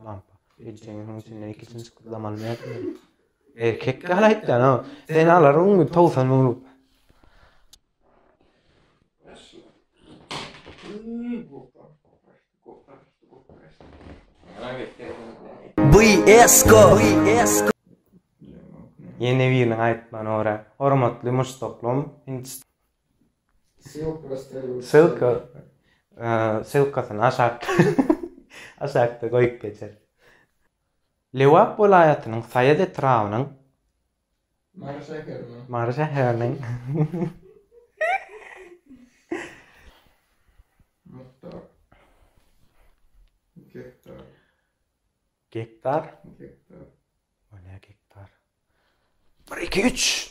Lampa. Ejeňiň muň içinden ikisini sykytlamaly nätmeli? Erkek gal aýtýan, ha. Sen alar muňy towsan muňlup. Biesko. Ýene biriniň aýtmany ora. Hormatly muşdaklym, Hindistan. Ssylka ssylkasyny aşakda aşakda goýup geçeris. Lebap welaýatynyň Saýat etrabynyň Mary şäheriniň Mary şäheriniň Muhtar Gektar Gektar Gektar O ne gektar? 1 2 3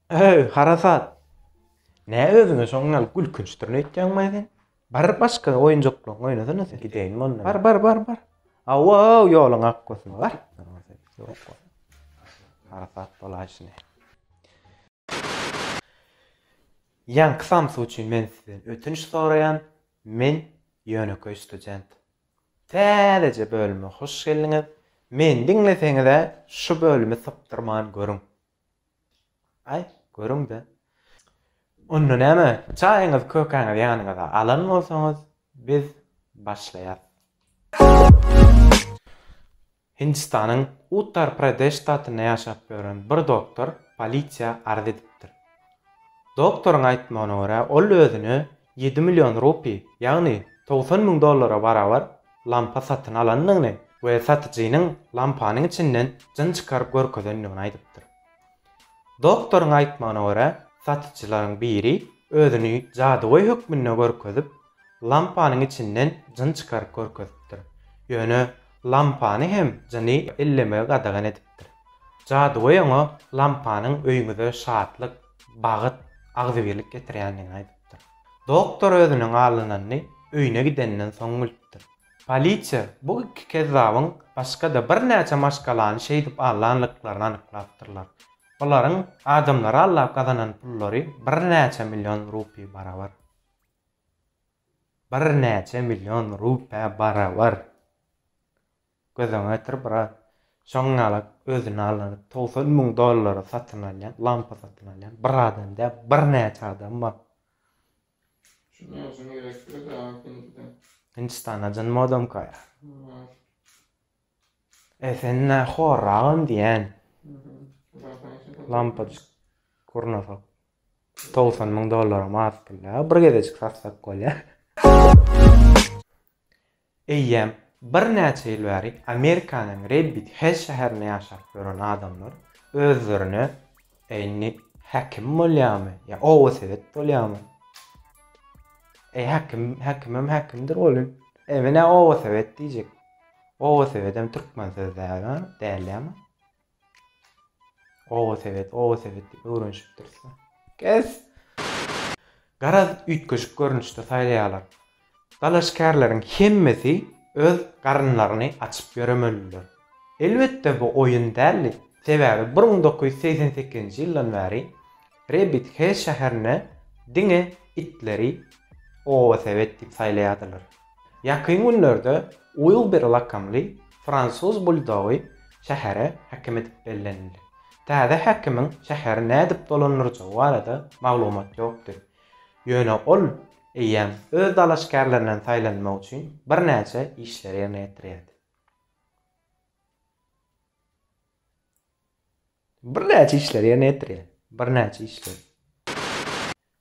Öý, harasat! Nä özüňe şoň ýaly gülkünç durny öýtýäňmaý sen? Bar başga oýunjaklaryňy oýnasana sen. Gideýin mundan. Bar, bar, bar, bar. Aw-aw, ýoluň ak bolsun, bar. Harasat bolaý şine. Ýaňky samsy üçin men sizden ötünç soraýan, men ýönekeý student. Täzeje bölüme hoş geldiňiz. Meni diňleseňiz-ä, şu bölümi sypdyrman görüň. Aý, görüň-dä. Onda näme, çaýyňyzy, kökäňizi ýanyňyza alan bolsaňyz, biz başlaýas. Hindistanyň Uttar-Pradeş ştatynda ýaşap ýören bir doktor polisiýa arz edipdir. Doktoryň aýtmagyna görä, ol özüni Ýedi million rupi, ýagny togsan müň dollara barabar lampa satyn alandygyny we satyjynyň lampanyň içinden jyn çykaryp görkezendigini aýdypdyr. Doktoryň aýtmagyna görä, satyjylaryň biri özüni jadygöý hökmünde görkezip, lampanyň içinden jyn çykaryp görkezipdir. Ýöne lampany hem jyny ellemegi gadagan edipdir. Jadygöý oňa lampanyň öýüňize şatlyk, bagt, agzybirlik getirýändigini aýdypdyr. Doktor özüniň alynanyny öýüne gidenden soň bilipdir. Polisiýa bu iki kezzabyň başga-da birnäçe maşgalany şeýdip allanlyklaryny anyklapdyrlar. Bularyň adamlary allap gazanan pullary birnäçe million rupi barabar. Birnäçe million rupä barabar! Gözüňe getir, brat. Şoň ýalak özüni aldanyp togsan müň dollara satyn alýan, lampa satyn alýan bir adam däl, birnäçe adam bar. Şunuň üçin gerekdir dagy Hindide. Hindistanda jyn modamkaýa. Bar. E sen nä horragam diýýän. Zadyň içi pul. Lampajyk gurnasak togsan müň dollaram az pul däl. Bir gezejik satsak bolýar. Eýýäm birnäçe ýyl bäri Amerikanyň Rebbit Hell şäherinde ýaşap ýören adamlar özlerine Indi häkim bolýamy ýa oba sowet bolýamy? Eý häkim, häkimem häkimdir welin, emin-ä oba sowet diýjek. Oba sowedem türkmen sözi däl-ä, däl ýa-ma? Oba sebet, oba sebet diýip öwrenişipdiris-le. Kes! Garaz, üýtgeşik görnüşde saýlaýarlar. Dalaşgärleriň hemmesi öz garynlaryny açyp ýöremelidiler. Elbetde, bu oýun däldi, sebäbi bir müň dokuz ýüz segsen sekizinji ýyldan bäri Rebit Hell şäherinde diňe itleri oba sebet diýip saýlaýardylar. Ýakyn günlerde Uilber lakamly fransuz buldogy şähere häkim edip bellenildi. Täze häkimiň şäheri nädip dolandyrjagy barada maglumat ýokdy. Ýöne ol eýýäm öz dalaşgärlerinden saýlanmak üçin birnäçe işleri ýerine ýetirýärdi. Birnäçe işleri ýerine ýetirýär. Birnäçe işleri.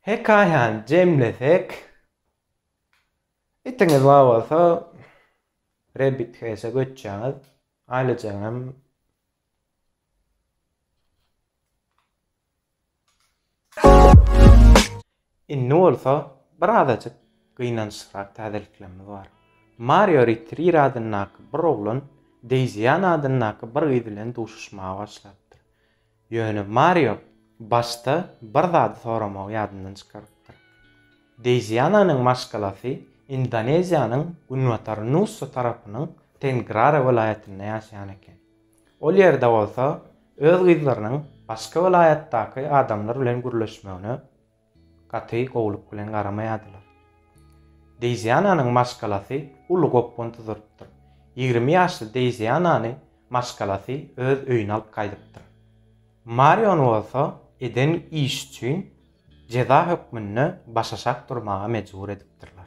Hekaýany jemlesek, Itiňiz bar bolsa, Rabbit Race-e göçýäňiz. Aýlyjaň hem Indi bolsa bir azajyk gynançlyrak täzeliklerimiz bar. Mario Ritrir adyndaky bir oglan Deýzi Ýan adyndaky bir gyz bilen duşuşmaga başlapdyr. Ýöne Mario başda bir zady soramagy ýadyndan çykarypdyr. Deiziananyň maşgalasy Indoneziýanyň günbatar Nusa tarapynyň Tengrara welaýatynda ýaşaýan eken. Ol ýerde bolsa öz gyzlarynyň başga welaýatdaky adamlar bilen gürleşmegine gaty gowulyk bilen garamaýardylar. Deýziananyň maşgalasy uly gopgun tuzurypdyr. Ýigrimi ýaşly Deýzianany maşgalasy öz öýüne alyp gaýdypdyr. Marion bolsa eden işi üçin jeza hökmünde başaşak durmaga mejbur edipdirler.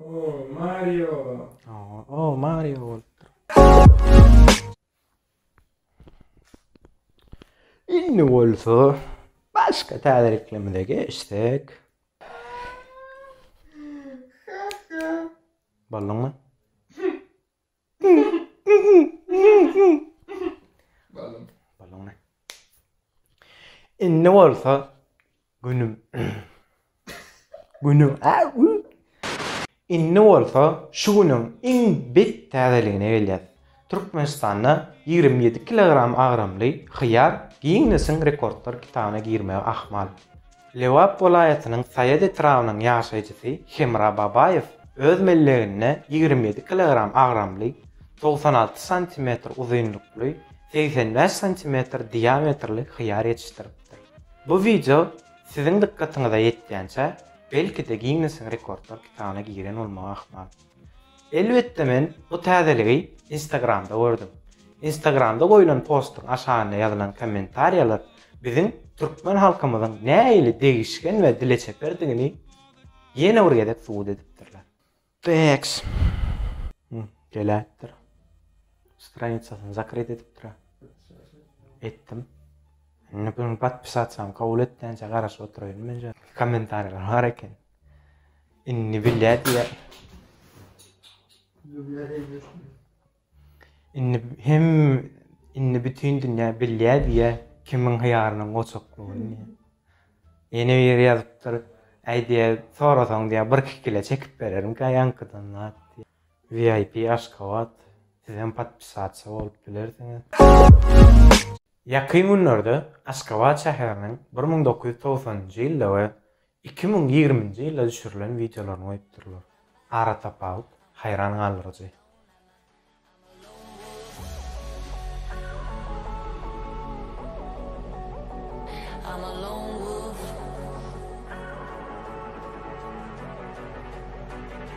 Oo Mario. Oo Mario bolupdyr. Indi bolsa başga täzeliklerimize geçsek. Ballyňmy? Indi bolsa günüm. Günüm. Indi bolsa şu günüň iň bet täzeligine gelýär. Türkmenistanda 27 kilogram agramly hyýar Ginnesiň rekordlar kitabyna girmäge ahmal. Lebap welaýatynyň Saýat etrabynyň ýaşaýjysy Hemra Babaýew öz melleginde ýigrimi ýedi kilogram agramly, togsan alty santimetr uzynlykly, segsen bäş santimetr diametrli hyýar ýetişdiripdir. Bu wideo siziň dykgatyňyza ýetýänçä, belki-de Ginnesiň rekordlar kitabyna giren bolmagy ahmal. Elbetde men bu täzeligi Instagramda gördüm. Instagramda goýlan postuň aşagynda ýazylan kommentariýalar biziň türkmen halkymyzyň nähili degişgen we dileçeperdigini ýene bir gezek subut edipdirler. Tx. Geläýipdir. Stranitsasyny zakryt edipdir-ä. Etdim. Indi bu podpisasiýamy kabul etdänçä garaşyp oturaýyn menje. Kommentariýalar bar eken. Indi bilýär diýýär. Indi hem indi bütün dünýä bilýär diýýär kimiň hyýarynyň goçaklygyny diýýär. Ýene bir ýeri ýazypdyr. Äý diýýär, sorasaň diýýär, bir iki kile çekip bererin gaýankydan zat diýýär. VIP Aşgabat. Siz hem podpisatsa bolup bilersiňiz. Ýakyn günlerde Aşgabat şäheriniň bir müň dokuz ýüz togsanynjy ýylda we Iki müň ýigriminji ýylda düşürilen wideolaryny goýupdyrlar. Aratapawut haýran galdyryjy.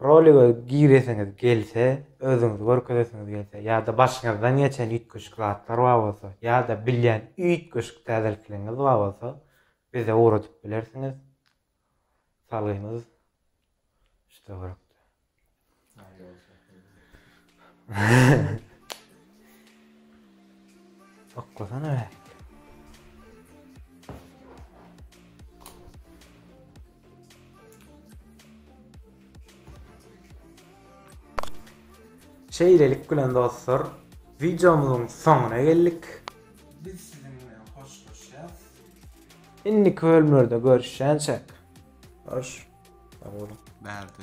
Roliga giresiňiz gelse, özüňizi görkezesiňiz gelse ýa-da başyňyzdan geçen üýtgeşik zatlar bar bolsa ýa-da bilýän üýtgeşik täzelikligiňiz bar bolsa, bize ugradyp bilersiňiz. Salgymyz şu töwerekde. Saklasana be. Şeýlelik bilen dostlar, videomyzyň soňuna geldik. Biz siziň bilen hoşlaşýas. Indi bölümlerde görüşýänçek. Hoş. Sag bolun. Bärde.